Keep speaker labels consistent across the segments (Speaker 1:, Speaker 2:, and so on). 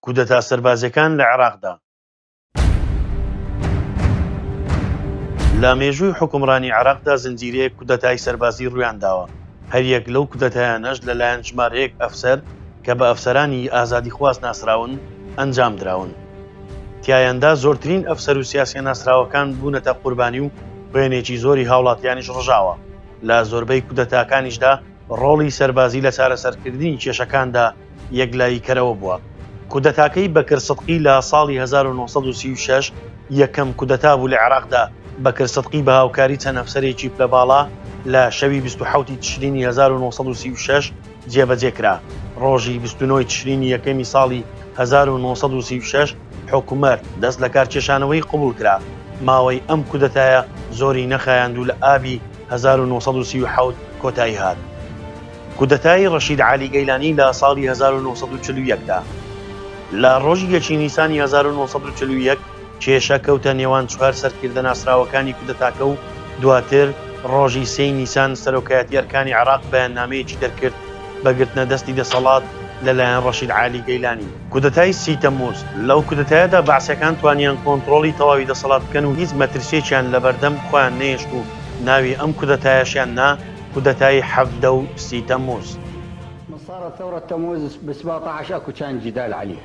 Speaker 1: کودەتا سەربازیەکان لە عێراقدا. لە مێژووی حوکمڕانی عێراقدا زنجیرەیەک کودەتای سەربازی ڕوویانداوە، هەریەک لەو کودەتایانەش لەلایەن ژمارەیەک ئەفسەر کە بە ئەفسەرانی ئازادیخواز ناسراون ئەنجامدراون. تیایاندا زۆرترین ئەفسەر و سیاسیە ناسراوەکان بوونەتە قوربانی و بوێنێکی زۆری هاوڵاتیانیش ڕژاوە، لە زۆربەی کودەتاکانیشدا ڕۆڵی سەربازی لە چارەسەرکردنی کێشەکاندا یەکلاییکەرەوە بووە. کودەتاکەی بەکر سدقی لە ساڵی هەزار و نۆ سەد و سی و شەش یەکەم کودەتا بوو لە عێراقدا، بەکر سدقی بە هاوکاری چەند ئەفسەرێکی پلەباڵا لە شەوی بیست و حەوت ی تشرینی هەزار و نۆ سەد و سی و شەش، جێبەجێ کرا. ڕۆژی بیست و نۆ ی تشرینی یەکەمی ساڵی هەزار و نۆ سەد و سی و شەش حکومەت دەست لەکارکێشانەوەی قبوڵ کرا. ماوەی ئەم کودەتایە زۆری نەخایاند و لە ئابی هەزار و نۆ سەد و سی و حەوت کۆتایی هات. کودەتای ڕەشید عەلی گەیلانی لە ساڵی هەزار و نۆ سەد و چل و یەک دا لە ڕۆژی یەکی نیسانی هەزار و نۆ سەد و چل و یەک، کێشە کەوتە نێوان چوار سەرکردە ناسراوەکانی کودەتاکە و دواتر ڕۆژی سێی نیسان سەرۆکایەتی ئەرکانی عێراق بەیاننامەیەکی دەرکرد بە گرتنە دەستی دەسەڵات لە لایەن ڕەشید عالی گەیلانی. کودەتای سی تەمموز، لەو کودەتایەدا بەعسیەکان توانیان کۆنتڕۆڵی تەواوی دەسەڵات بکەن و هیچ مەترسیەکیان لەبەردەم خۆیان نەهێشت و ناوی ئەم کودەتایەشیان نا کودەتای حەڤدە و سی تەمموز. من صارت ثورة تموز ب
Speaker 2: سبعطعش اكو كان جدال عليه.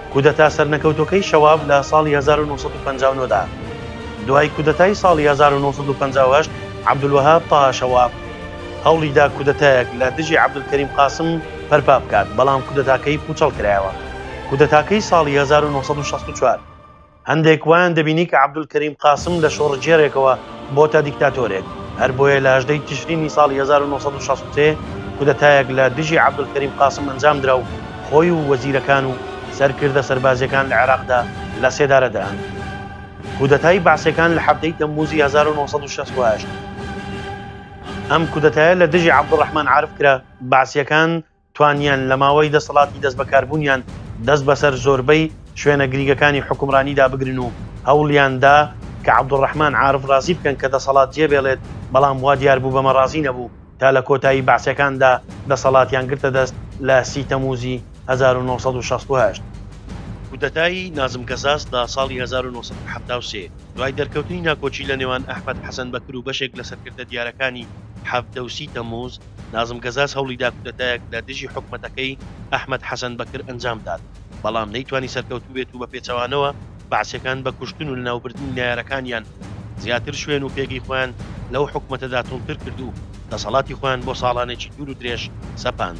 Speaker 1: کودەتا سەرنەکەوتوەکەی شەواب لە ساڵی هەزار و نۆ سەد و پەنجا و نۆ دا. دوای کودەتای ساڵی هەزار و نۆ سەد و پەنجا و هەشت عەبدولوەهاب تاها شەواب هەوڵیدا کودەتایەک لە دژی عەبدولکەریم قاسم پەرپا بکات، بەڵام کودەتاکەی پوچەڵکرایەوە. کودەتاکەی ساڵی هەزار و نۆ سەد و شەست و چوار. هەندێک وایان دەبینی کە عەبدولکەریم قاسم لە شۆڕگێڕێکەوە بۆتە دیکتاتۆرێک، هەر بۆیە لە هەژدە ی تشرینی ساڵی هەزار و نۆ سەد و شەست و سێ کودەتایەک لە دژی عەبدولکەریم قاسم ئەنجامدرا و خۆی و وەزیرەکان و سەرکردە سەربازییەکان لە عێراقدا لە سێدارە دران. کودەتای بەعسییەکان لە حەڤدە ی تەممووزی هەزار و نۆ سەد و شەست و هەشت ئەم کودەتایە لە دژی عەبدولڕەحمان عارف کرا، بەعسییەکان توانیان لە ماوەی دەسەڵاتی دەستبەکاربوونیان دەست بەسەر زۆربەی شوێنە گریگەکانی حوکمڕانیدا بگرن و هەوڵیان دا کە عەبدولڕەحمان عارف ڕازی بکەن کە دەسەڵات جێبێڵێت بەڵام وا دیار بوو بەمە ڕازی نەبوو تا لە کۆتایی بەعسیەکاندا دەسەڵاتیان گرتە دەست لە سی تەمووزی هەزار و نۆ سەد و شەست و هەشت. کودەتای نازم گەزاز لە ساڵی هەزار و نۆ سەد و حەفتا و سێ دوای دەرکەوتنی ناکۆکی لە نێوان ئەحمەد حەسەن بەکر و بەشێک لە سەرکردە دیارەکانی حەڤدە و سی تەمووز، نازم گەزاز هەوڵیدا کودەتایەک لە دژی حکومەتەکەی ئەحمەد حەسەن بەکر ئەنجامدات، بەڵام نەیتوانی سەرکەوتوو بێت و بەپێچەوانەوە بەعسیەکان بە کوشتن و لەناوبردنی نەیارەکانیان زیاتر شوێن و پێگەی خۆیان لەو حکومەتەدا توندتر کرد و دەسەڵاتی خۆیان بۆ ساڵانێکی دوور و درێژ سەپاند.